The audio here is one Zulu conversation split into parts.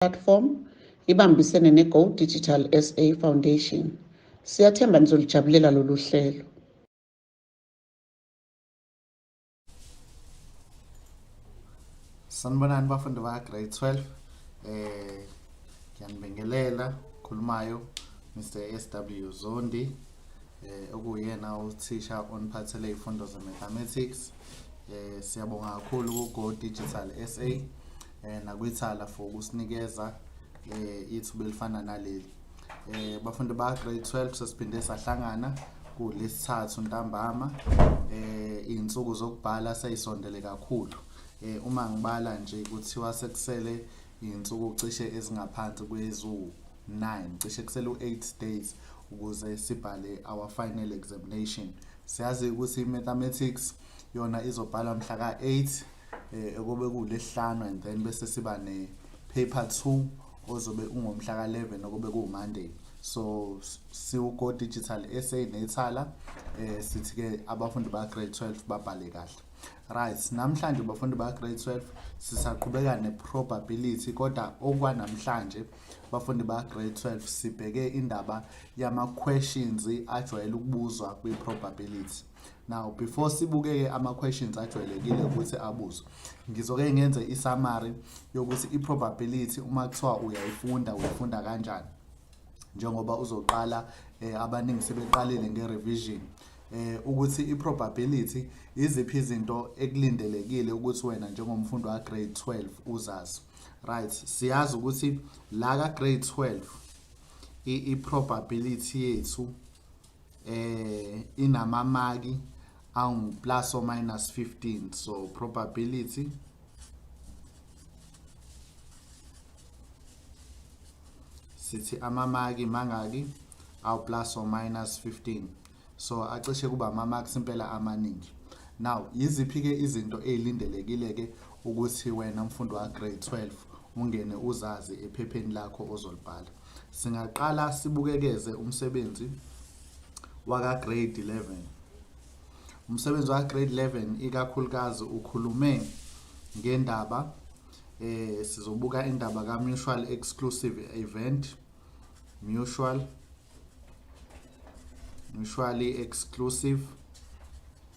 Platform ibambisene ne-Go Digital SA Foundation. Siyathemba nizolijabulela lolu hlelo. Sanibonani bafundi ba grade 12. Eh ngiyanibingelela khulumayo Mr SW Zondi eh okuyena uthisha oniphathele izifundo ze mathematics. Eh siyabonga kakhulu ku Go Digital SA. eh, nakwithala for ukusinikeza eh, ithuba elifana naleli eh, bafundi ba grade 12 sesiphinde sahlangana kulesithathu ntambama eh izinsuku zokubhala seyisondele kakhulu eh uma ngibala nje kuthiwa sekusele izinsuku cishe ezingaphansi kwezu 9 cishe kusele u8 days ukuze sibhale our final examination siyazi ukuthi i mathematics yona izobhalwa mhla ka 8 eh okobe kulesihlanu and then bese siba ne paper 2 ozobe ungomhla ka 11 okobe ku Monday so siwugo digital SA nethala eh sithi ke abafundi ba grade 12 babhale kahle right namhlanje bafundi ba grade 12 sisaqhubeka ne probability kodwa okwanamhlanje bafundi ba grade 12 sibheke indaba yama questions ajwayele ukubuzwa kwi probability now before sibukeke ama questions ajwayelekile ukuthi abuzwe ngizoke ngenze i summary yokuthi i probability uma kuthiwa uyayifunda uyifunda kanjani njengoba uzoqala eh, abaningi sebeqalile nge revision eh ukuthi i probability iziphi izinto ekulindelekile ukuthi wena njengomfundi wa grade 12 uzazi right siyazi ukuthi la ka grade 12 i probability yethu eh inamamaki angu plus or minus 15 so probability sithi amamaki mangaki aw plus or minus 15 so acishe kuba ama marks impela amaningi now yiziphi ke izinto ezilindelekile ke ukuthi wena mfundi wa grade 12 ungene uzazi ephepheni lakho ozolibhala Singaqala sibukekeze umsebenzi waka-grade 11. Umsebenzi waka-grade 11 ikakhulukazi ukhulume ngendaba eh sizobuka indaba ka-mutual exclusive event mutual mutually exclusive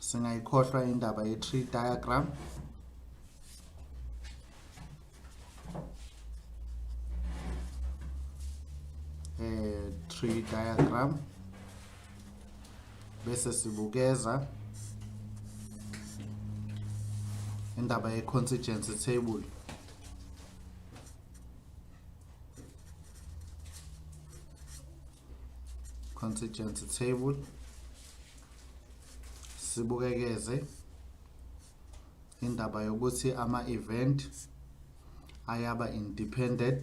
singayikhohlwa indaba ye-tree diagram eh tree diagram bese sibukeza indaba ye-constituency table contingency table sibukekeze indaba yokuthi ama-event ayaba independent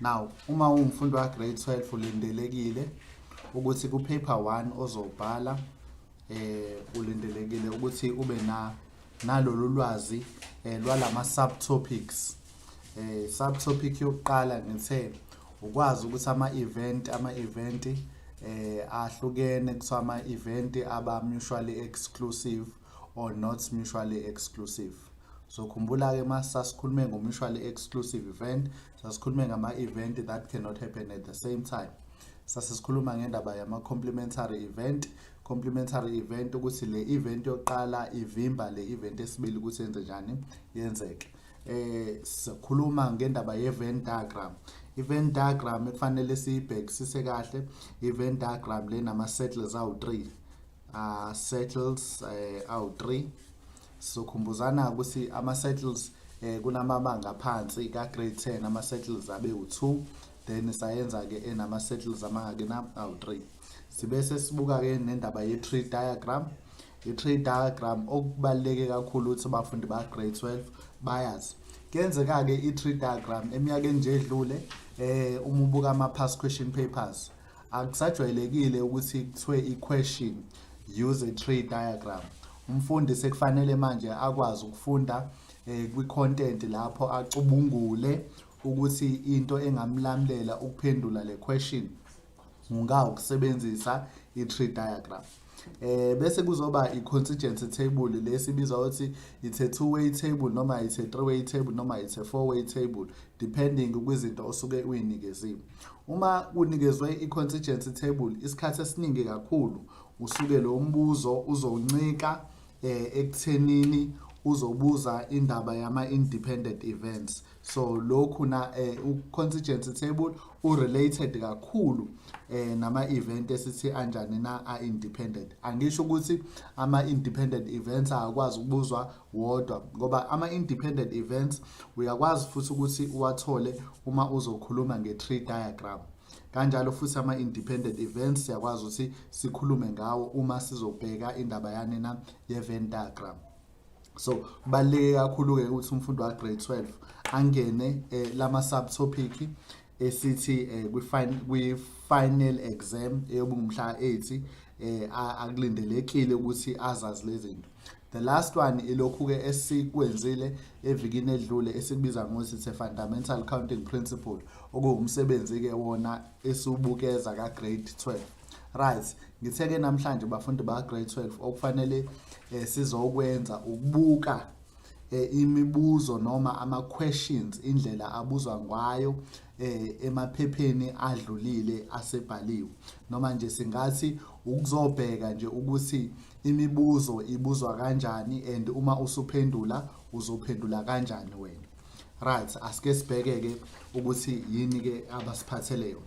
now uma ungumfundi wa grade 12 ulindelekile ukuthi ku paper 1 ozobhala eh ulindelekile ukuthi ube na nalolu lwazi eh lwalama subtopics eh subtopic yokuqala ngithe ukwazi ukuthi ama event ama event eh ahlukene kuthiwa ama event aba mutually exclusive or not mutually exclusive Zokhumbula-ke uma sasikhulume ngomutually exclusive event, sasikhulume ngama-event that cannot happen at the same time. Sase sikhuluma ngendaba yama-complementary event, complementary event ukuthi le event yokuqala ivimba le event esibili ukuthi yenze njani yenzeke. Eh sikhuluma ngendaba ye-Venn diagram. I-Venn diagram ekufanele siyibhekisise kahle, i-Venn diagram le nama-circles awu-3. Uh, circles uh, awu-3 Sizokhumbuzana ukuthi ama-settles eh, kunamabanga aphansi ka-grade 10 ama-settles abe u-2 then sayenza-ke enama-settles amangaki na awu-3 sibe sesibuka-ke nendaba ye-tree diagram i-tree diagram okubaluleke kakhulu ukuthi abafundi ba-grade 12 bayazi kuyenzeka-ke i-tree diagram eminyakeni nje edlule um uma ubuka ama-past question papers Akusajwayelekile ukuthi kuthiwe i-question use a tree diagram. Umfundi sekufanele manje akwazi ukufunda eh, kwi-content lapho acubungule ukuthi into engamlamulela ukuphendula le question ngawukusebenzisa i-tree diagram. eh bese kuzoba i-constituency table lesi biza ukuthi it's a two way table noma it's a three way table noma it's a four way table depending kwizinto osuke uyinikeziwe uma kunikezwe i-constituency table isikhathi esiningi kakhulu usuke lo mbuzo uzoncika eh, ekuthenini uzobuza indaba yama-independent events so lokhu na eh, uconstituency table urelated kakhulu eh, nama event esithi anjani na a independent angisho ukuthi ama independent events akwazi ukubuzwa wodwa ngoba ama independent events uyakwazi futhi ukuthi uwathole uma uzokhuluma nge tree diagram kanjalo futhi ama independent events siyakwazi ukuthi sikhulume ngawo uma sizobheka indaba yanina ye Venn diagram so kubaluleke kakhulu-ke ukuthi umfundi wa-grade 12 angene eh, lama subtopic esithi eh, kwi-final exam eyobungumhla 8 eh, akulindelekile ukuthi azazi lezi zinto the last one ilokhu-ke esikwenzile evikini edlule esikubiza ngokuthi it's a fundamental counting principle okuwumsebenzi-ke wona esiwubukeza ka-grade 12 Right, ngithe ke namhlanje bafundi ba grade 12 okufanele eh, sizokwenza ukubuka eh, imibuzo noma ama questions indlela abuzwa ngayo eh, emaphepheni adlulile asebhaliwe noma nje singathi ukuzobheka nje ukuthi imibuzo ibuzwa kanjani and uma usuphendula uzophendula kanjani wena right asike sibheke ke ukuthi yini ke abasiphathele yona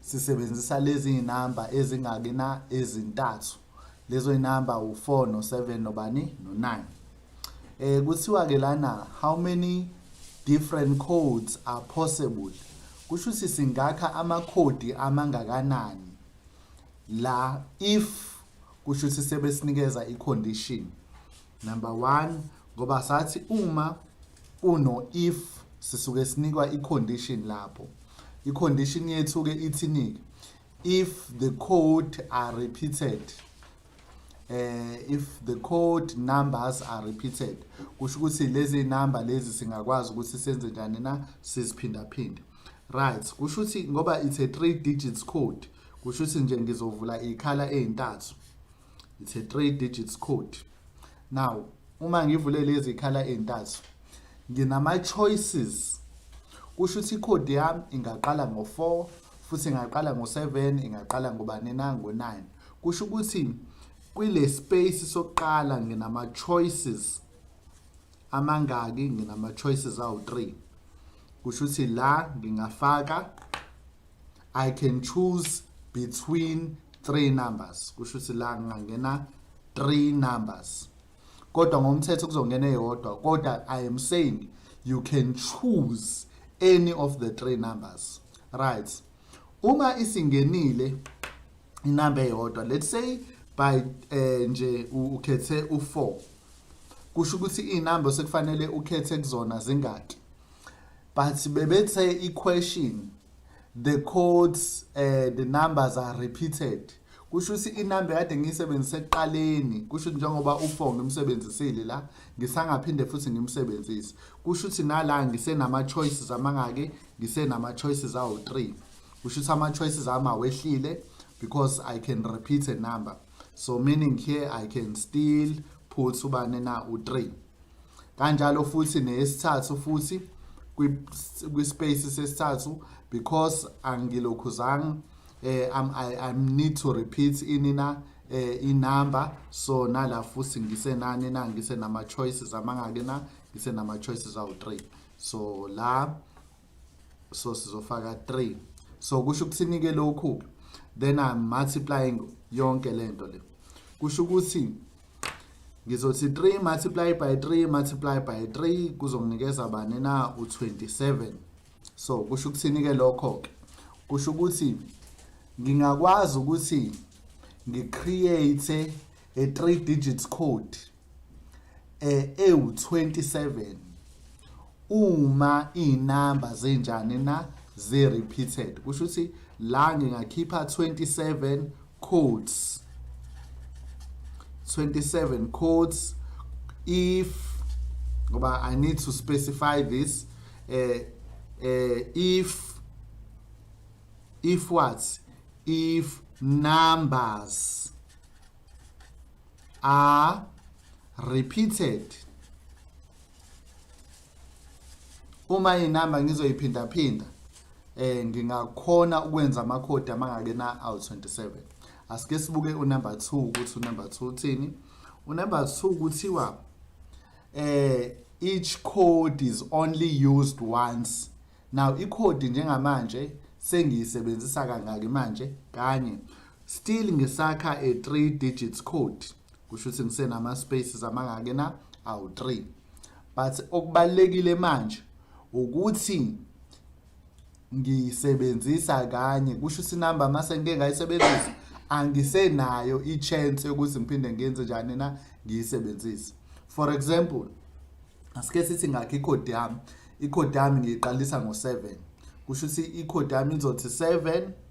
Sisebenzisa lezi zinamba ezingaki na ezintathu. Lezo zinamba u4 no7 nobani no9. Eh kuthiwa ke lana how many different codes are possible? Kusho ukuthi singakha amakhodi amangakanani la if kusho ukuthi sebesinikeza icondition Number one, ngoba sathi uma kuno if sisuke sinikwa i-condition lapho. I-condition yethu-ke ithini-ke? If the code are repeated, eh if the code numbers are repeated kusho ukuthi lezi number lezi singakwazi ukuthi senze njani na siziphinda phinda right kusho ukuthi ngoba it's a three digits code kusho ukuthi nje ngizovula ikhala ezintathu it's a three digits code now uma ngivule lezi khala ezintathu nginama choices kusho ukuthi icode yami ingaqala ngo4 futhi ingaqala ngo7 ingaqala ngobani na ngo9 kusho ukuthi kwile space sokuqala nginama choices amangaki nginama choices awu3 kusho ukuthi la ngingafaka I can choose between three numbers kusho ukuthi la ngingangena three numbers kodwa ngomthetho kuzongena eyodwa kodwa i am saying you can choose any of the three numbers right uma isingenile inamba eyodwa let's say by eh, nje ukhethe u4 kusho ukuthi inamba sekufanele ukhethe kuzona zingaki but bebethe i-question the codes uh, the numbers are repeated kusho ukuthi inamba kade ngiyisebenzise ekuqaleni kusho ukuthi njengoba u-four ngimsebenzisile la ngisangaphinde futhi ngimsebenzise kusho ukuthi nala ngisenama-choices amangaki ngisenama-choices awu-three kusho ukuthi ama-choices ami awehlile because i can repeat a number so meaning here i can still put ubani na u3 kanjalo futhi nesithathu futhi kwi space sesithathu because angilokhuzanga eh I'm, I, I need to repeat inina eh inumber so nala futhi ngisenani na ngisenama choices amangake na ngisenama choices awu3 so la so sizofaka 3 so kusho ukuthini ke lokhu then i'm multiplying yonke lento le kusho ukuthi ngizothi 3 multiply by 3 multiply by 3 kuzonginikeza bani na u27 so kusho ukuthini ke lokho ke kusho ukuthi ngingakwazi ukuthi ngicreate a 3 digits code eh ewu27 uma inamba zenjani na ze repeated kusho ukuthi la ngingakhipha 27 codes 27 codes if ngoba i need to specify this eh eh if if what if numbers are repeated uma inamba ngizoyiphindaphinda eh ngingakhona ukwenza amakhodi amangake na awu 27 asike sibuke unumber 2 ukuthi unumber 2 uthini unumber 2 kuthiwa eh each code is only used once now ikhodi njengamanje sengiyisebenzisa kangaki manje kanye Still ngisakha a 3 digits code kusho ukuthi ngisenama spaces amangake na awu 3 but okubalekile manje ukuthi ngisebenzisa kanye kusho ukuthi number mase ngike ngayisebenzisa angisenayo ichance yokuthi ngiphinde ngenze njani na ngiyisebenzise for example asike sithi ngakhe icode yami icode yami ngiyiqalisa ngo7 kusho ukuthi icode yami izothi 7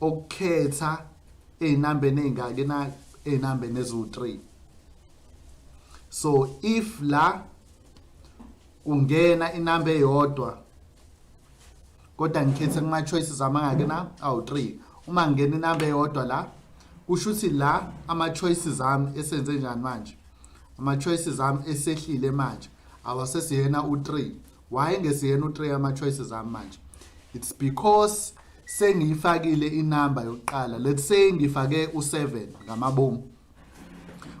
ukukhetha ezinambeni ezingaki na ezinambeni ezu3 so if la kungena inamba eyodwa kodwa ngikhethe kuma choices amangaki na awu3 uma ngingena inamba eyodwa la kusho ukuthi la ama choices ami esenze njani manje ama choices ami esehlile manje awasesiyena u3 why ngesiyena utrey ama-choices ami manje it's because sengiyifakile inamba yokuqala let's say ngifake u-seven ngamabomu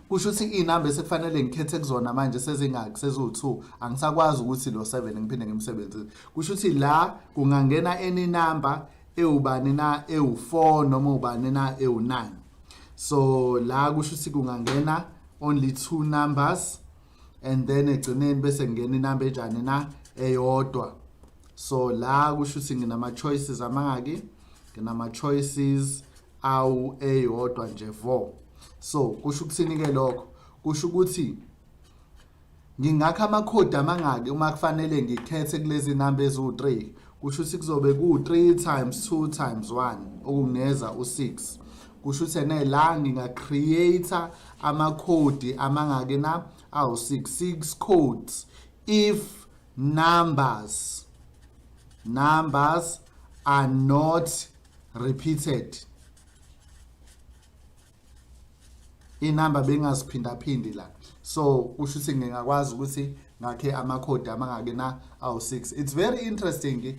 kusho ukuthi iy'namba esekufanele ngikhethe kuzona manje sezingaki seziwu-two angisakwazi ukuthi lo seven ngiphinde ngimsebenzise kusho ukuthi la kungangena any number ewubani na ewu-four noma ubani na ewu-nine so la kusho ukuthi kungangena only two numbers and then egcineni bese ngingena inamba enjani na eyodwa so la kusho ukuthi nginama-choices amangaki nginama-choices awu eyodwa nje vo so kusho ukuthini-ke lokho kusho ukuthi ngingakha amakhodi amangaki uma kufanele ngikhethe kulezi namba eziwu-3 kusho ukuthi kuzobe ku-3 times 2 times 1 okungineza u-6 kusho ukuthi ene la ngingacreate amakhodi amangaki na awu-6 six codes if numbers numbers are not repeated inamba bengaziphindaphindi la so kusho ukuthi ngingakwazi ukuthi ngakhe amakhodi amangaki na awu-6 it's very interesting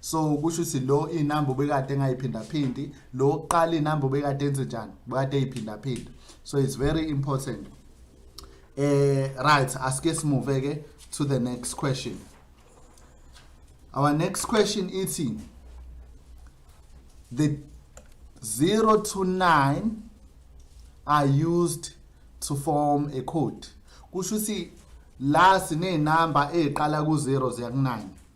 so kusho ukuthi lo inamba ubekade engayiphindaphindi lo oqala inamba ubekade enze njani ubekade eyiphindaphinda so it's very important eh right asike simove ke to the next question our next question ithi the 0 to 9 are used to form a code kusho ukuthi la sinenamba eziqala ku 0 ziya ku 9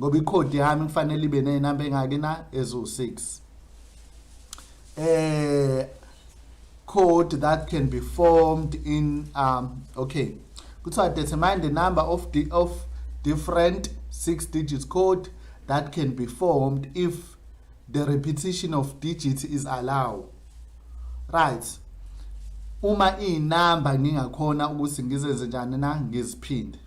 ngoba ikhodi yami kufanele ibe nezinamba engaki na eziwu6 eh code that can be formed in um okay kuthiwa determine the number of the of different six digits code that can be formed if the repetition of digits is allowed right uma inamba ngingakhona ukuthi ngizenze njani na ngiziphinde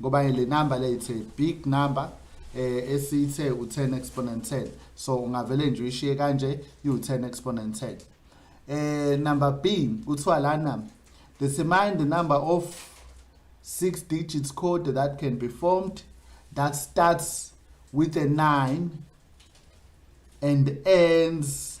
ngoba le number le it's a big number eh esithe u10 exponent 10 so ungavele nje uyishiye kanje u10 exponent 10 eh number B uthiwa lana determine the number of six digits code that can be formed that starts with a 9 and ends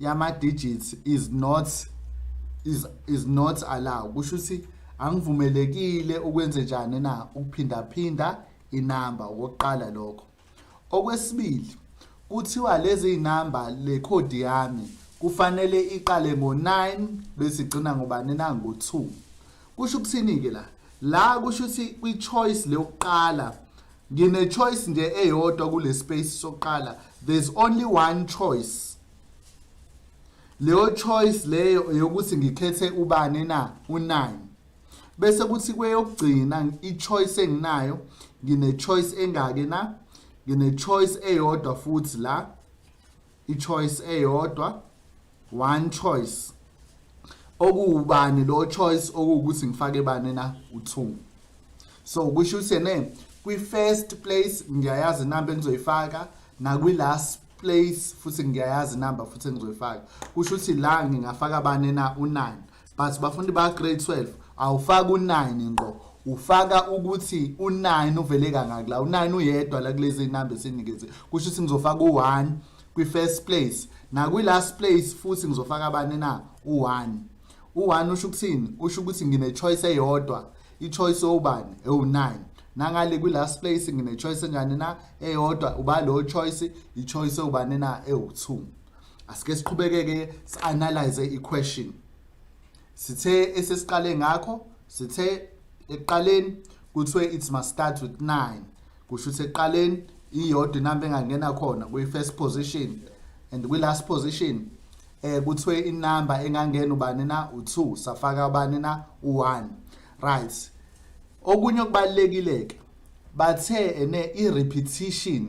yama digits is not is is not allowed kusho ukuthi angivumelekile ukwenze njani na ukuphinda phinda inamba okokuqala lokho okwesibili kuthiwa lezi inamba le code yami kufanele iqale ngo9 bese igcina ngobani na ngo2 kusho ukuthini ke la la kusho ukuthi kwi choice leyokuqala Ngine choice nje eyodwa kule space sokuqala. There's only one choice. Leyo choice leyo eyokuthi ngikhethe ubani na u9. Bese kuthi kweyokugcina i choice enginayo ngine choice engake na ngine choice eyodwa futhi la ichoice eyodwa one choice okuwubani lo choice okuwukuthi ngifake bani na u2 so kusho ukuthi ne kwi first place ngiyayazi number engizoyifaka nakwi last place futhi ngiyayazi number futhi engizoyifaka kusho ukuthi la ngingafaka bani na u9 but bafundi ba grade 12 awufaka u9 ngqo ufaka ukuthi u9 uvele kangaki la u9 uyedwa la kulezi number esinikeze kusho ukuthi ngizofaka u1 kwi first place na kwi last place futhi ngizofaka abane na u1 u1 usho ukuthini usho ukuthi ngine choice eyodwa i choice obani ewu9 nangale kwi last place ngine choice enjani na eyodwa uba lo choice i choice obani na ewu2 asike siqhubekeke sianalyze iquestion sithe esesiqale ngakho sithe ekuqaleni kuthiwe it must start with 9 kusho ukuthi ekuqaleni iyodwa inamba engangena khona kwi-first position and kwi-last position eh kuthiwe inamba engangena ubani na u2 safaka ubani na u1 right okunye okubalekile ke bathe ene i-repetition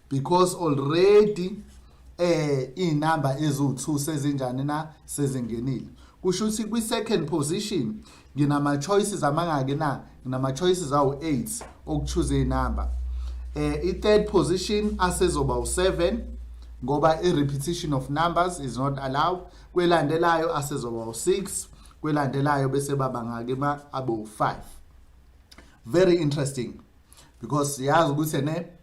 because already eh inamba eziwu2 sezinjani na sezingenile kusho ukuthi kwi second position nginama choices amangaki na nginama choices awu 8 okuchoose inamba eh i third position asezoba u7 ngoba i repetition of numbers is not allowed kwelandelayo asezoba u6 kwelandelayo bese baba ngake ma abo 5 very interesting because siyazi ukuthi ne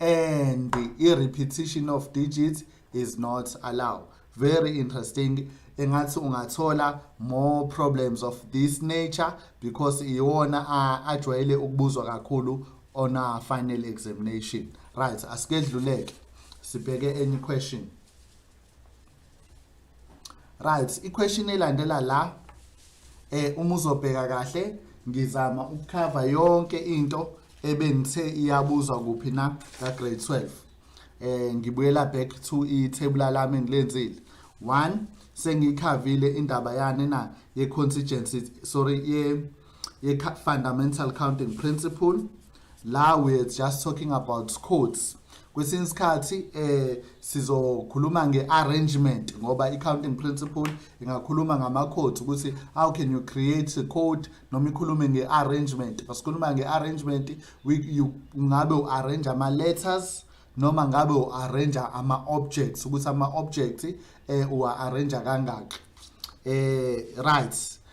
and i repetition of digits is not allowed very interesting engathi ungathola more problems of this nature because iwona ajwayele ukubuzwa kakhulu on our final examination right asikedluleke sibheke any question right iquestion elandela la eh uma uzobheka kahle ngizama ukukhava yonke into ebengithe iyabuzwa kuphi na ka grade 12 eh ngibuyela back to i table lami engilenzile 1 sengikhavile indaba yani na ye contingency sorry ye ye fundamental counting principle la we're just talking about codes kwesinye isikhathi eh sizokhuluma nge-arrangement ngoba i-counting principle ingakhuluma ngama-codes ukuthi how can you create a code noma ikhulume nge-arrangement masikhuluma nge-arrangement ngabe u-arrange ama-letters noma ngabe u-arrange ama-objects ukuthi ama-object eh uwa-arrange kangaki eh right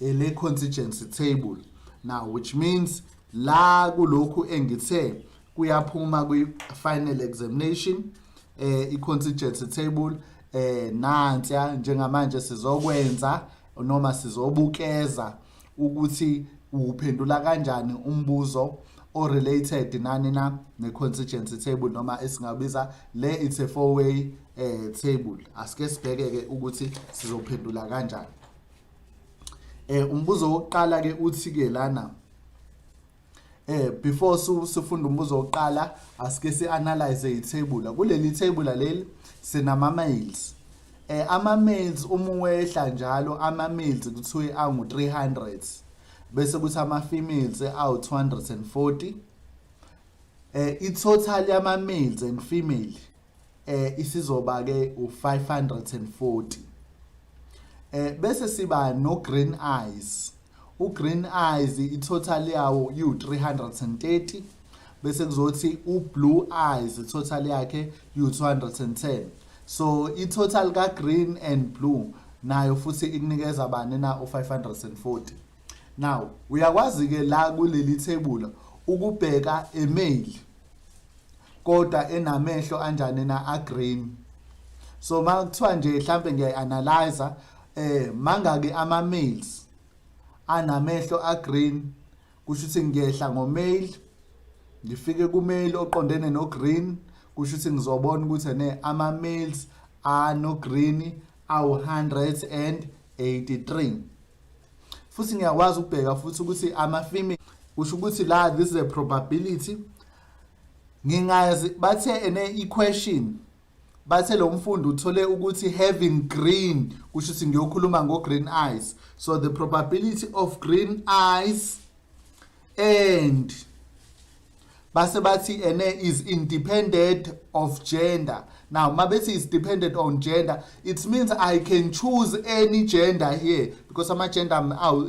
ele contingency table now which means la kulokhu engithe kuyaphuma kwi final examination eh i contingency table eh nantsya njengamanje sizokwenza noma sizobukeza ukuthi uphendula kanjani umbuzo o related nani na ne contingency table noma esingabiza le it's a four way eh table asike sibheke ke ukuthi sizophendula kanjani eh umbuzo wokuqala ke uthi ke lana eh before sifunda umbuzo wokuqala asike si analyze i table kuleli table leli sinama mails eh ama mails uma wehla njalo ama mails kuthiwe angu 300 bese kuthi ama females awu 240 eh i total yama males and female eh isizoba ke u540 eh bese siba no green eyes u green eyes i total yawo u 330 bese kuzothi u blue eyes i total yakhe u 210 so i total ka green and blue nayo futhi ikunikeza bani na u 540 now uyakwazi ke la kuleli thebula ukubheka email kodwa enamehlo anjani na a green so makuthiwa nje mhlambe ngiyayi analyzer eh mangaki ama males anamehlo a green kusho ukuthi ngiyehla ngo male ngifike ku male oqondene no green kusho ukuthi ngizobona ukuthi ne ama males ano green awu 183 futhi ngiyakwazi ukubheka futhi ukuthi ama female kusho ukuthi la this is a probability ngingazi bathe ene equation bathe lo mfundi uthole ukuthi having green kusho ukuthi ngiyokhuluma ngo green eyes so the probability of green eyes and base bathi ene is independent of gender now mabethi is dependent on gender it means i can choose any gender here because ama gender awu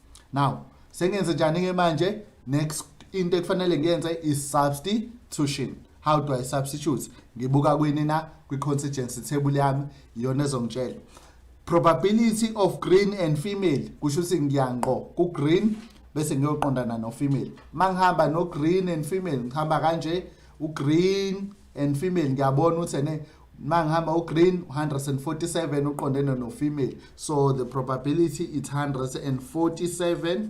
now sengenze njani ke manje next into ekufanele ngiyenze is substitution how do i substitute ngibuka kwini na kwi constituency table yami iyona ezongitshela probability of green and female kusho ukuthi ngiyangqo ku green bese ngiyoqondana no female mangihamba no green and female ngihamba kanje u green and female ngiyabona ukuthi ene mangihamba ugreen 147 uqondene nofemale so the probability it's 147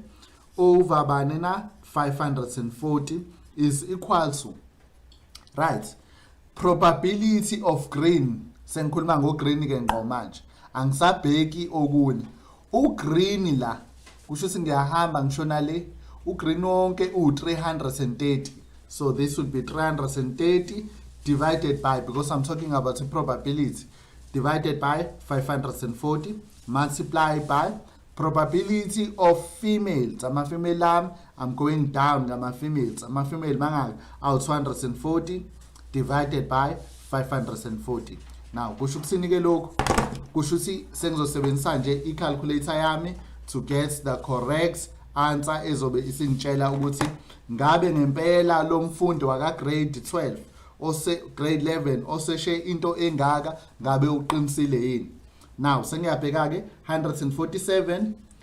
over bani na 540 is equal to right probability of green sengikhuluma ngogreen ke ngqo manje angisabheki okunye ugreen la kusho ukuthi ngiyahamba ngishona le ugreen wonke uwu-330 so this would be 330 divided by because i'm talking about i-probability divided by 540 multiply by probability of females amafemale ami I'm going down ngama females ama female mangaki awu 240 divided by 540 now kusho ukuthini ke lokhu kusho ukuthi sengizosebenzisa nje i calculator yami to get the correct answer ezobe isingitshela ukuthi ngabe ngempela lo mfundi waka grade 12 ose grade 11 oseshe into engaka ngabe uqinisile yini now sengiyabheka ke 147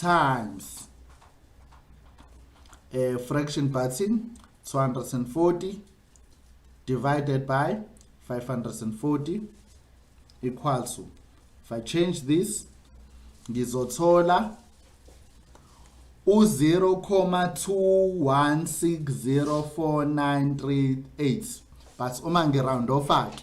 times a fraction button 240 divided by 540 equals to if i change this ngizothola u-0,2160498 but uma ngiround off-ke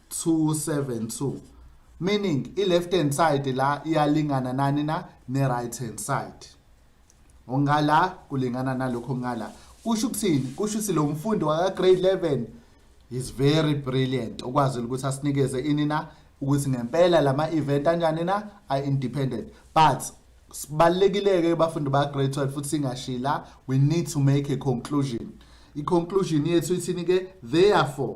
272 meaning i left hand side la iyalingana nani na ne right hand side ongala kulingana nalokho ngala kusho ukuthini kusho ukuthi lo mfundi waka grade 11 is very brilliant okwazi ukuthi asinikeze ini na ukuthi ngempela lama event anjani na are independent but sibalekile ke bafundi ba grade 12 futhi singashila we need to make a conclusion i conclusion yethu ithini ke therefore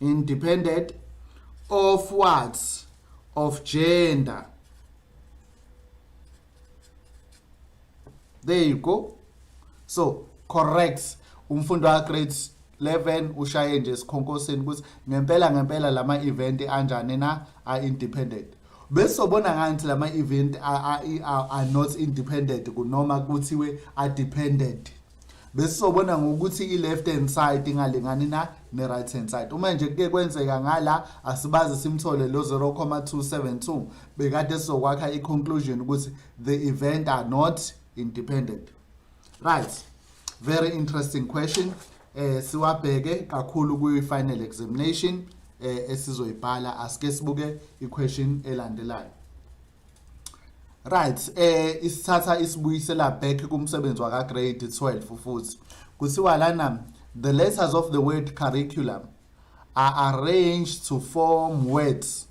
independent of what of gender there you go so correct umfundi wa grade 11 ushaye nje esikhonkosini ukuthi ngempela ngempela lama event anjani na are independent bese sobona ngathi lama event are, are, are not independent kunoma kuthiwe are dependent besizobona ngokuthi i-left hand side ingalingani na ne-right hand side uma nje kuke kwenzeka ngala asibazi simthole lo 0,272 bekade sizokwakha i-conclusion ukuthi the event are not independent right very interesting question eh siwabheke kakhulu kwi-final examination eh esizoyibhala asike sibuke i-question elandelayo Right, eh isithatha isibuyisela back kumsebenzi waka grade 12 futhi. Kuthiwa lana the letters of the word curriculum are arranged to form words.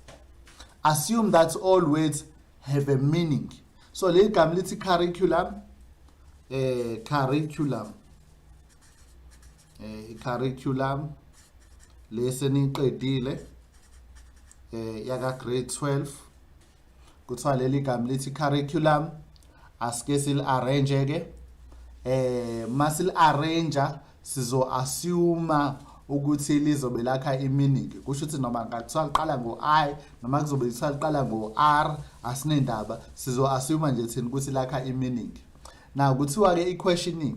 Assume that all words have a meaning. So leli gama lithi curriculum eh curriculum eh i-curriculum lesi niqedile eh yaka grade 12 kuthiwa leli gama lithi curriculum asike sil arrange ke eh masil arrange sizo assume ukuthi lizobe lakha iminingi kusho ukuthi noma ngakuthiwa liqala ngo-i noma kuzobe kuthiwa liqala ngo-r asinendaba sizo-assume nje thina ukuthi lakha iminingi na kuthiwa-ke i-questioning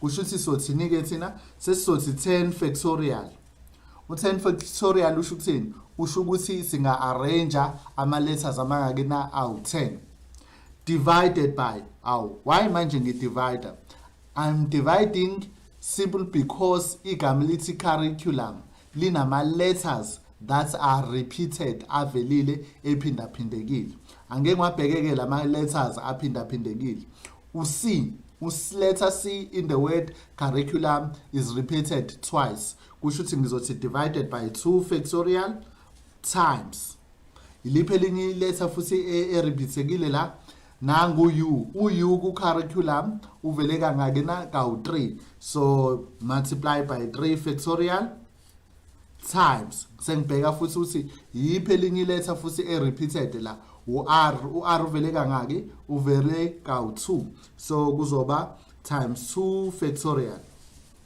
kushuthi sothini ke thina sesizothi 10 factorial u10 factorial usho ukuthini usho ukuthi singa arrange ama letters amangaki na awu10 divided by awu why manje ngi divider i'm dividing simple because igama lithi curriculum linama letters that are repeated avelile ephindaphindekile angeke ngwabhekeke lama letters aphindaphindekile uc uletter c in the word curriculum is repeated twice kusho ukuthi ngizothi divided by 2 factorial times Yiliphi elinye iletha futhi e- eribhisekile la? Nangu u. U-u ku-curriculum uvele kangaki na? Kawu-3. So multiply by 3 factorial times. Sengibheka futhi ukuthi yiphi elinye iletha futhi e-repeated la? U-r. U-r uvele kangaki? Uvele kawu-2. So kuzoba times 2 factorial.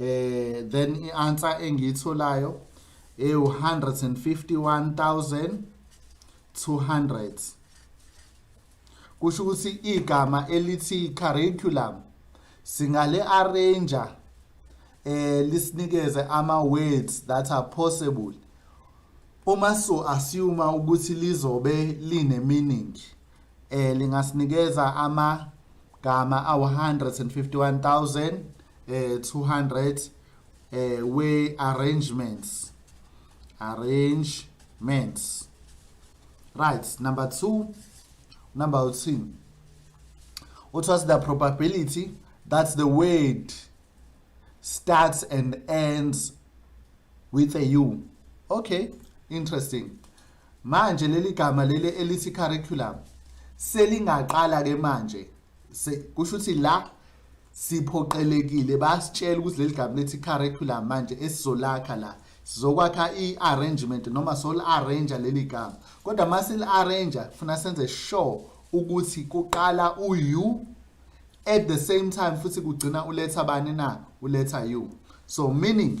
eh then ianswer engiyitholayo eh 151200 kusho ukuthi igama elithi curriculum singale arranger eh lisinikeze ama words that are possible uma so assume ukuthi lizobe line meaning eh lingasinikeza ama gama awu 151000 eh 200 eh we arrangements arrangements right number 2 number 3 what was the probability that the word starts and ends with a u okay interesting Manje leli gama leli elithi curriculum selingaqala ke manje kusho ukuthi la siphoqelekile basitshela ukuthi leli gama lethi curriculum manje esizolakha la sizokwakha i-arrangement noma soli-arranger leli gama kodwa uma sili-arranger funa senze sure ukuthi kuqala u-u at the same time futhi kugcina uletha bani na uletha u so meaning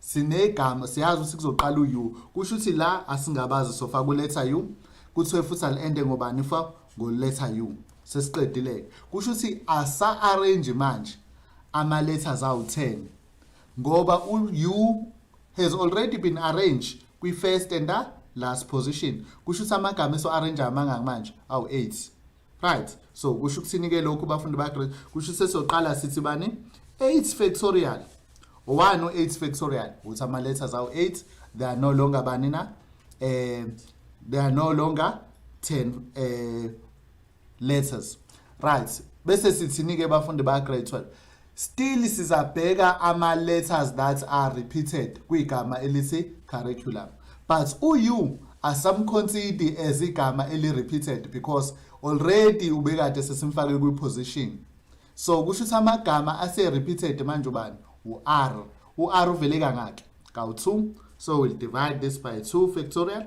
sinegama siyazi ukuthi kuzoqala u-u kusho ukuthi la asingabazi sofa kuletha u kuthiwe futhi ali-ende ngobani fa ngoletha u sesiqedile-ke kusho ukuthi asa-arrange manje ama-letters awu-10 ngoba u-u has already been arranged kwi-first and the last position kusho ukuthi amagama eso-arrange amangaki manje awu-8 right so kusho ukuthini ke lokhu bafundi ba grade kusho sesoqala sithi bani 8 factorial 1 u 8 factorial uthi ama letters awu 8 they are no longer bani na eh they are no longer 10 eh letters right bese sithini ke bafundi ba grade 12 Still sizabheka ama letters that are repeated kwigama elithi curriculum. But uyu asamconsider as igama eli repeated because already ubekade sesimfake kwi position. So kusho ukuthi amagama ase repeated manje ubani? U R. U R uvele kangaki? Kawu 2. So we'll divide this by 2 factorial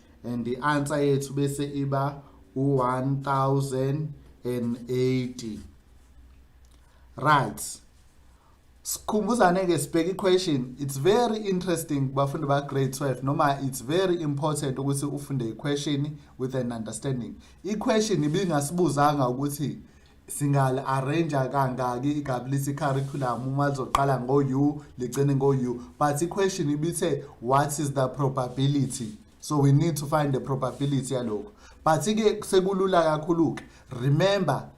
and i-answer yethu bese iba u-1080 right sikhumbuzane ke sibheke iquestion it's very interesting bafundi ba grade 12 noma it's very important ukuthi ufunde iquestion with an understanding iquestion ibingasibuzanga ukuthi singali arrange kangaki igabulisi curriculum uma lizoqala ngo u ligcine ngo u but iquestion ibithe what is the probability so we need to find the probability yaloko but ke sekulula kakhulu ke remember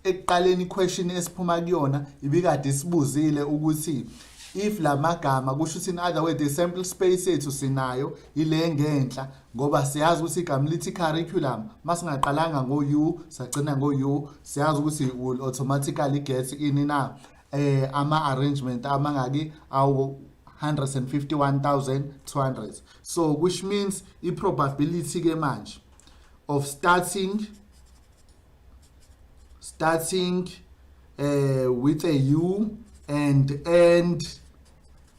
ekuqaleni question esiphuma kuyona ibikade isibuzile ukuthi if lamagama kusho ukuthi in other way the sample space yethu sinayo ile ngenhla ngoba siyazi ukuthi igama lithi curriculum masingaqalanga ngo u sagcina ngo u siyazi ukuthi will automatically get ini na eh ama arrangement amangaki awu 151,200 so which means i probability ke manje of starting starting uh, with a u and end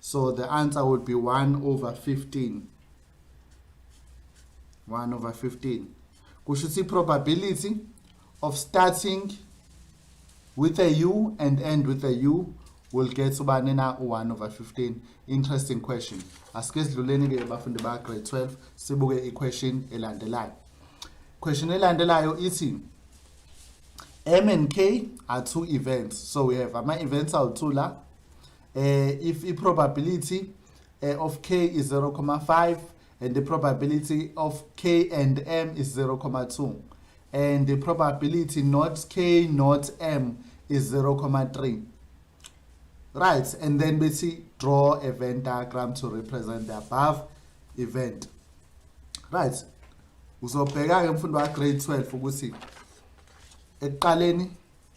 So the answer would be 1 over 15. 1 over 15. Kusho ukuthi probability of starting with a u and end with a u will get ubani na u1 over 15 interesting question asike sidluleni ke bafundi ba grade 12 sibuke iquestion elandelayo question elandelayo ithi m and k are two events so we have ama events awu2 la eh if i probability eh, of k is 0.5 and the probability of k and m is 0.2 and the probability not k not m is 0.3 right and then bethi draw a venn diagram to represent the above event right uzobheka ke mfundo wa grade 12 ukuthi ekuqaleni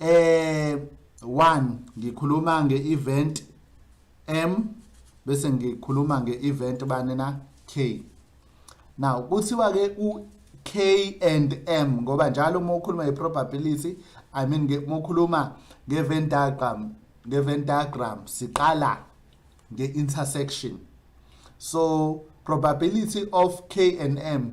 eh one ngikhuluma nge-event m bese ngikhuluma nge-event bani na k now kuthiwa-ke u-k and m ngoba njalo uma ukhuluma nge-probability i mean uma ukhuluma nge-event diagram nge-event diagram siqala nge-intersection so probability of k and m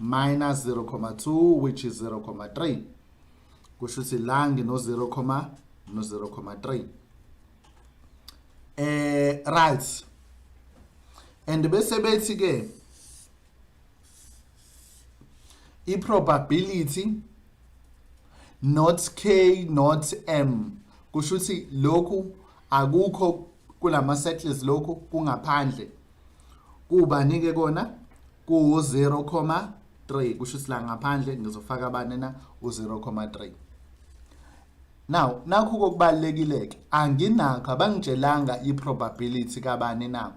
minus 0,2 which is 0,3 kusho ukuthi la ngino 0, no 0,3 eh right and bese bethi ke i probability not k not m kusho ukuthi lokhu akukho kulama settles lokhu kungaphandle kubani ke kona ku 0,3 kusho ukuthi la ngaphandle ngizofaka abane na u 0,3 now nakho kokubalekile ke anginakho abangitshelanga i probability kabani na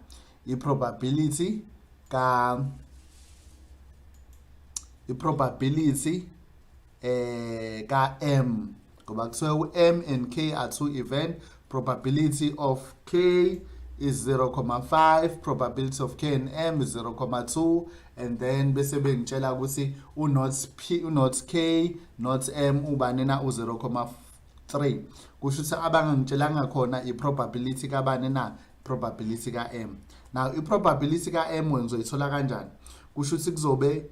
i probability ka i probability eh ka M ngoba kuthiwe u M and K are two event probability of K is 0.5 probability of K and M is 0.2 and then bese bengitshela ukuthi u not P u not K not M ubani na u 0.5 3 kusho ukuthi abangangitshelanga khona i probability kabani na probability ka M now i probability ka M wena uzoyithola kanjani kusho ukuthi kuzobe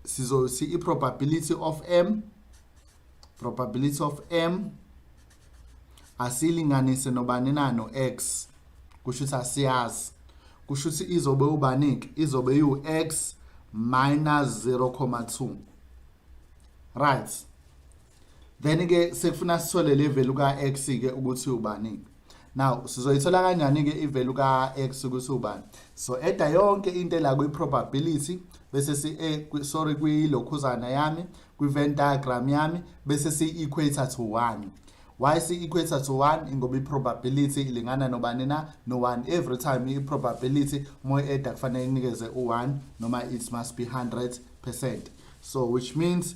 sizo si i probability of M probability of M asilinganise nobani na no X kusho ukuthi asiyazi kusho ukuthi izobe ubanike izobe yu X minus 0,2 right then ke sekufuna sithole le value ka x ke ukuthi ubani now sizoyithola kanjani ke ivalue ka x ukuthi ubani so eda yonke into la kwi probability bese si eh, sorry kwi lokhuzana yami kwi Venn diagram yami bese si equator to 1 why si equator to 1 ngoba i probability ilingana nobani na no 1 every time i probability moy eda kufanele inikeze u1 noma it must be 100% so which means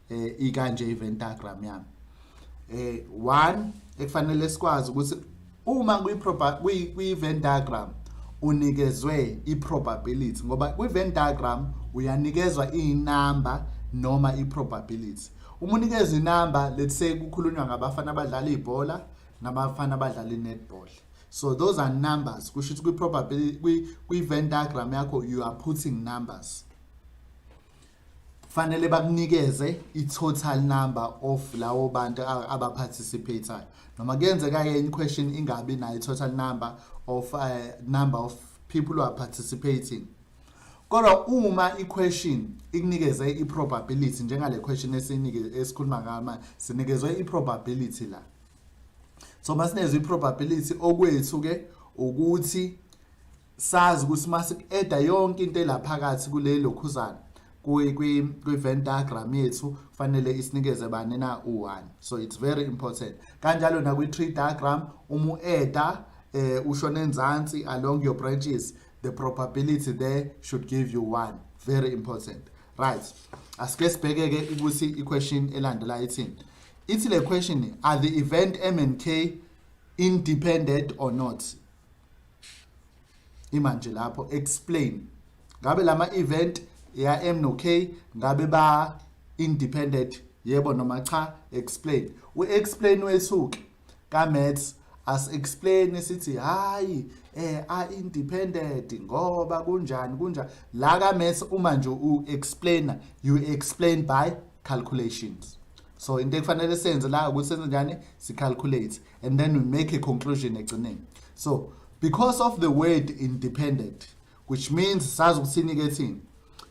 eh ikanje iventagram yami eh one ekufanele sikwazi ukuthi uma kwi kwi kwi Venn diagram unikezwe i probability ngoba kwi Venn diagram uyanikezwa i number noma i probability uma unikeza i number let's say kukhulunywa ngabafana abadlala ibhola nabafana abadlala netball so those are numbers kusho ukuthi kwi probability kwi Venn diagram yakho you are putting numbers fanele bakunikeze i-total number of lawo bantu abaparticipatayo noma kuyenzeka yenye question ingabi nayo i-total number of uh, number of people who are participating kodwa uma i-question ikunikeze i-probability njengale question esikhuluma ngama sinikezwe i-probability la so masinezwe i-probability okwethu-ke ukuthi Sazi ukuthi mase ku-eda yonke into elaphakathi kule lokhuzana kwi-event diagram yethu kufanele isinikeze bani na u-1 so it's very important kanjalo nakwi-tree diagram uma u-eda eh, ushona enzansi along your branches the probability there should give you 1 very important right asike sibheke-ke ukuthi i-question elandela ithini ithi le question are the event m and k independent or not imanje lapho explain ngabe lama event ya M no K ngabe ba independent yebo noma cha explain u explain wesuke ka maths as explain sithi hayi eh a independent ngoba kunjani kunjani la ka maths uma nje u explainer you explain by calculations so into ekufanele senze la ukuthi senze njani si calculate and then we make a conclusion ekugcineni so because of the word independent which means sazi ukuthini ke thina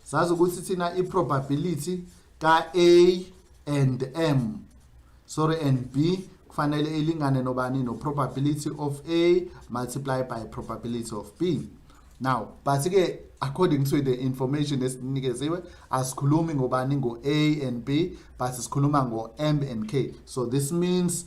sazi ukuthi thina i-probability ka-a and m sorry and b kufanele ilingane nobani no-probability of a multiply by probability of b now but-ke according to the information esinikeziwe asikhulumi ngobani ngo-a and b but sikhuluma ngo-m and k so this means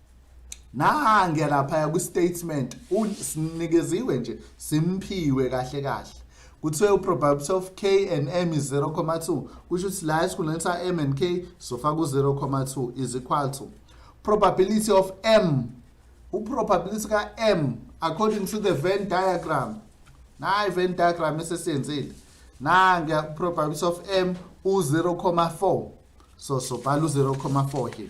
nange laphaya kwi-statement sinikeziwe nje simphiwe kahle kahle kuthiwe uprobability of k and m is 0,2 kusho ukuthi la esikhundleni sa-m and k sofaka u-0,2 is equal to probability of m uprobability ka-m according to the venn diagram nayi venn diagram esesiyenzile nange uprobability of m u-0,4 so sobhala u-0,4 here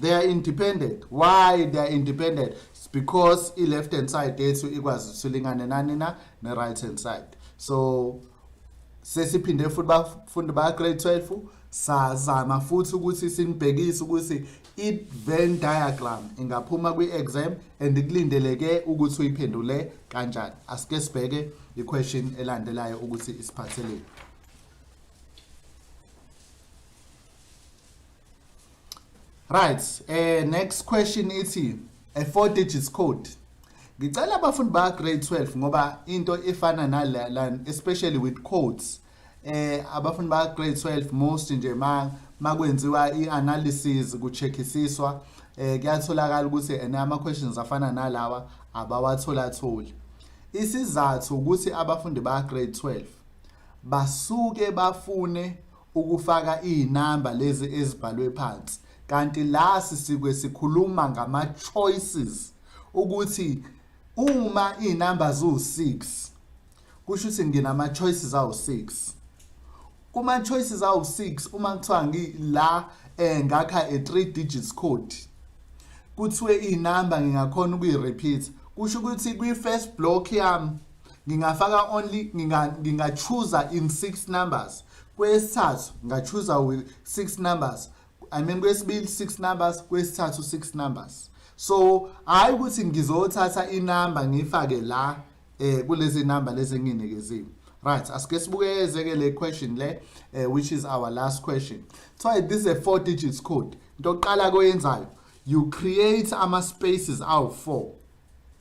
they are independent why they are independent It's because i-left hand side yethu ikwazi usilingane nani na ne-right hand side so sesiphinde futhi bafundi baka-grade 12 sazama futhi ukuthi sinibhekise ukuthi i-venn diagram ingaphuma kwi-exam and kulindeleke ukuthi uyiphendule kanjani asike sibheke i-question elandelayo ukuthi isiphatheleni Right, eh next question ithi a four digits code. Ngicela abafundi ba grade 12 ngoba into efana nala especially with codes eh abafundi ba grade 12 most nje ma makwenziwa ianalysis kucheckisiswa eh kuyatholakala ukuthi and ama questions afana nalawa abawathola tholi. Isizathu ukuthi abafundi ba grade 12 basuke bafune ukufaka izinamba lezi ezibhalwe phansi kanti la sisikwe sikhuluma ngama choices ukuthi uma izinamba ziwu6 kusho ukuthi nginama choices awu6 kuma choices awu6 uma kuthiwa ngila eh ngakha a 3 digits code kuthiwe izinamba ngingakhona ukuyi repeat kusho ukuthi kwi first block yami ngingafaka only ngingachuza in six numbers kwesithathu ngachuza with six numbers i mean kwesibili six numbers kwesithathu six numbers so hayi ukuthi ngizothatha inamba ngifake la eh kulezi namba lezi nginikeziwe right asike sibukeze ke le question le eh, which is our last question so this is a four digits code into oqala koyenzayo you create ama spaces awu 4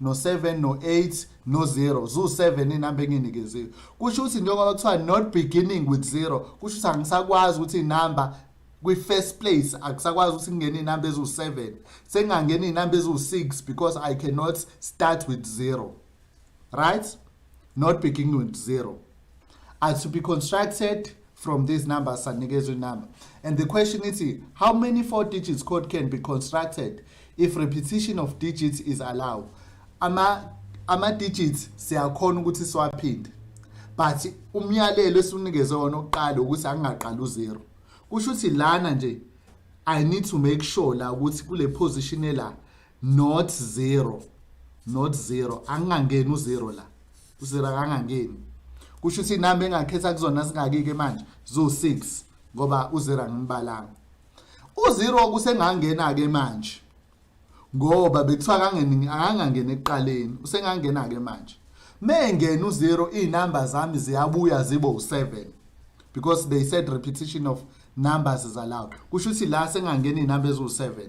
no-7 no-8 no-0 ziwu-7 inamba enginikeziwe kusho ukuthi njengoba kuthiwa not beginning with zero kusho ukuthi angisakwazi ukuthi inamba kwi-first place akusakwazi ukuthi kungene iy'namba eziwu-seven sengingangena iy'namba eziwu-six because i cannot start with zero right not beginning with zero are to be constructed from these numbers sanikezwa inumber and the question ithi how many four digits code can be constructed if repetition of digits is allowed ama ama digits siyakhona ukuthi siwaphinde but umyalelo esiwunikezwe wona oqala ukuthi angingaqala u0 kusho ukuthi lana nje i need to make sure la ukuthi kule position la not zero not zero angingangeni uzero la uzero akangangeni kusho ukuthi inamba engakhetha kuzona singakike manje zo 6 ngoba uzero angimbalanga uzero kusengangena ke manje ngoba bekuthiwa kangeni angangena ekuqaleni usengangena ke manje mengena uzero izinamba zami ziyabuya zibo u7 because they said repetition of numbers is allowed kusho ukuthi la sengangena izinamba eziwu7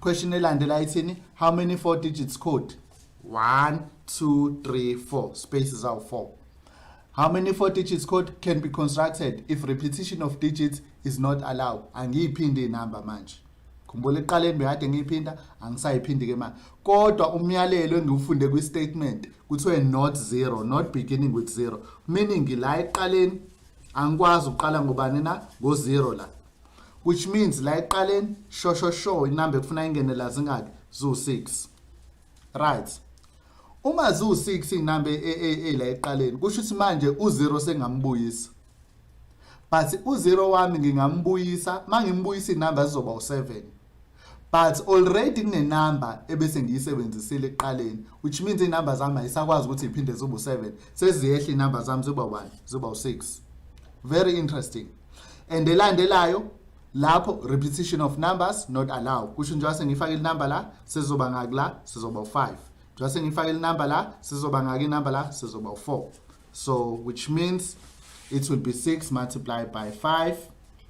Question elandela ithini? How many four digits code? 1 2 3 4 spaces out 4. How many four digits code can be constructed if repetition of digits is not allowed? Angiyiphindi inamba manje. Khumbula eqaleni bekade ngiyiphinda angisayiphindi ke manje. Kodwa umyalelo engiwufunde kwi statement kuthiwe not zero, not beginning with zero. Meaning la eqaleni angikwazi ukuqala ngobani na ngo zero la. which means la eqaleni sho sho sho inamba ekufuna ingene la zingaki zu 6 right uma zu 6 inamba e, e, e la eqaleni kusho ukuthi manje u 0 sengambuyisa but u 0 wami ngingambuyisa mangimbuyisa inamba zizoba u 7 but already kunenumber ebese ngiyisebenzisile ekuqaleni which means inumber zami ayisakwazi ukuthi iphinde zibe u7 seziyehla inumber zami ziba 1 ziba u6 very interesting and elandelayo lapho repetition of numbers not allow kusho njengoba sengifake inumber la sizoba ngaki la sizoba u5 njengoba sengifake inumber la sizoba ngaki inumber la sizoba u4 so which means it will be 6 multiplied by 5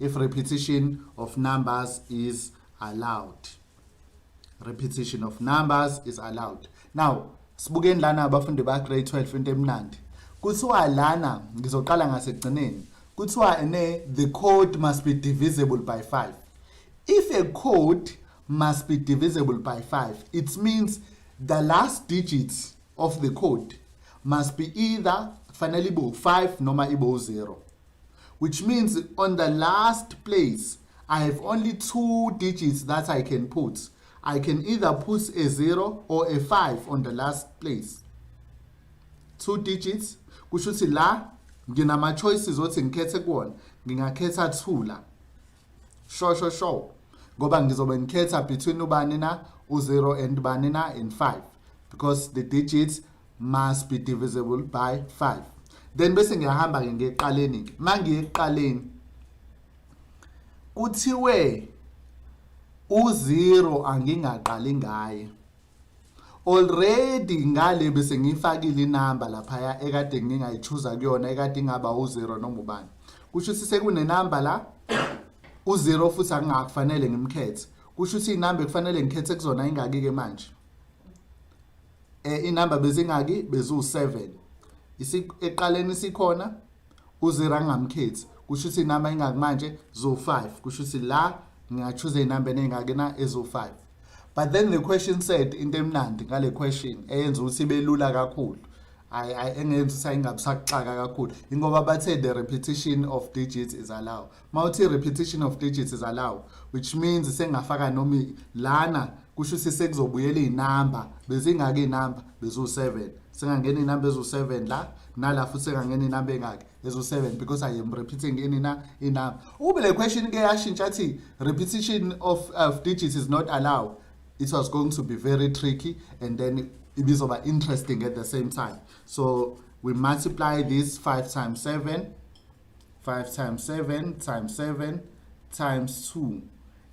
if repetition of numbers is allowed repetition of numbers is allowed now sibukeni lana abafundi ba grade 12 into emnandi kuthiwa lana ngizoqala ngasekugcineni kuthiwa ne the code must be divisible by 5 if a code must be divisible by 5 it means the last digits of the code must be either fanele ibo 5 noma ibo 0 which means on the last place I have only two digits that I can put. I can either put a 0 or a 5 on the last place. Two digits kusho ukuthi la nginama choices othi ngikhethe kuwona ngingakhetha 2 la. Sho sho sho. Ngoba ngizobe ngikhetha between ubani na u0 and bani na and 5 because the digits must be divisible by 5 then bese ngiyahamba ke ngeqaleni ke mangiye eqaleni kuthiwe u0 angingaqali ngaye already ngale bese ngifakile inamba laphaya ekade ngingayichuza kuyona ekade ingaba u0 noma ubani kusho ukuthi sekunenamba la u0 futhi angingakufanele ngimkhethe kusho ukuthi inamba ekufanele ngikhethe kuzona ingaki ke manje eh inamba bezingaki bezu7 eqaleni sikhona uzira ngamkhethi kusho ukuthi inamba ingaki manje zo5 kusho ukuthi la ngingachoose inamba enengaki na ezo5 but then the question said into emnandi ngale question eyenza ukuthi belula kakhulu I, I engenza ukuthi ayingabusakuxaka kakhulu ingoba bathe the repetition of digits is allowed mawuthi repetition of digits is allowed which means sengafaka noma lana kusho ukuthi sekuzobuyela izinamba bezingaka izinamba bezu7 sengangena izinamba ezu7 la nala futhi sengangena izinamba engaki ezu7 because i am repeating any na inamba ube le question ke yashintsha athi repetition of of digits is not allowed it was going to be very tricky and then ibizoba interesting at the same time so we multiply this 5 times 7 5 times 7 times 7 times 2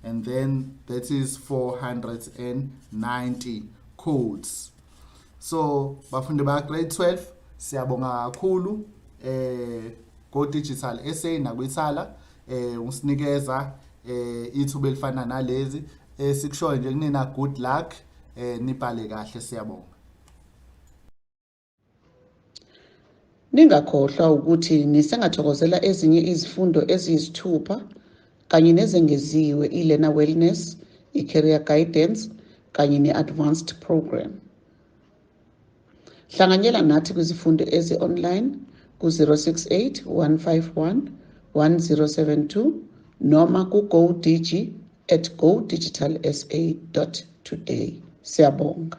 and then that is 490 codes so bafundi ba grade 12 siyabonga kakhulu eh go digital SA nakwithala eh usinikeza eh ithuba elifana nalezi esikushoyo eh, nje kunina good luck eh nibhale kahle siyabonga Ningakhohlwa ukuthi nisengathokozela ezinye izifundo eziyisithupha kanye nezengeziwe i-Learner Wellness, i-Career Guidance kanye ne-Advanced Program. Hlanganyela nathi kwizifundo ezi-online ku-068 151 1072 noma ku-GoDG at godigitalsa.today. Siyabonga.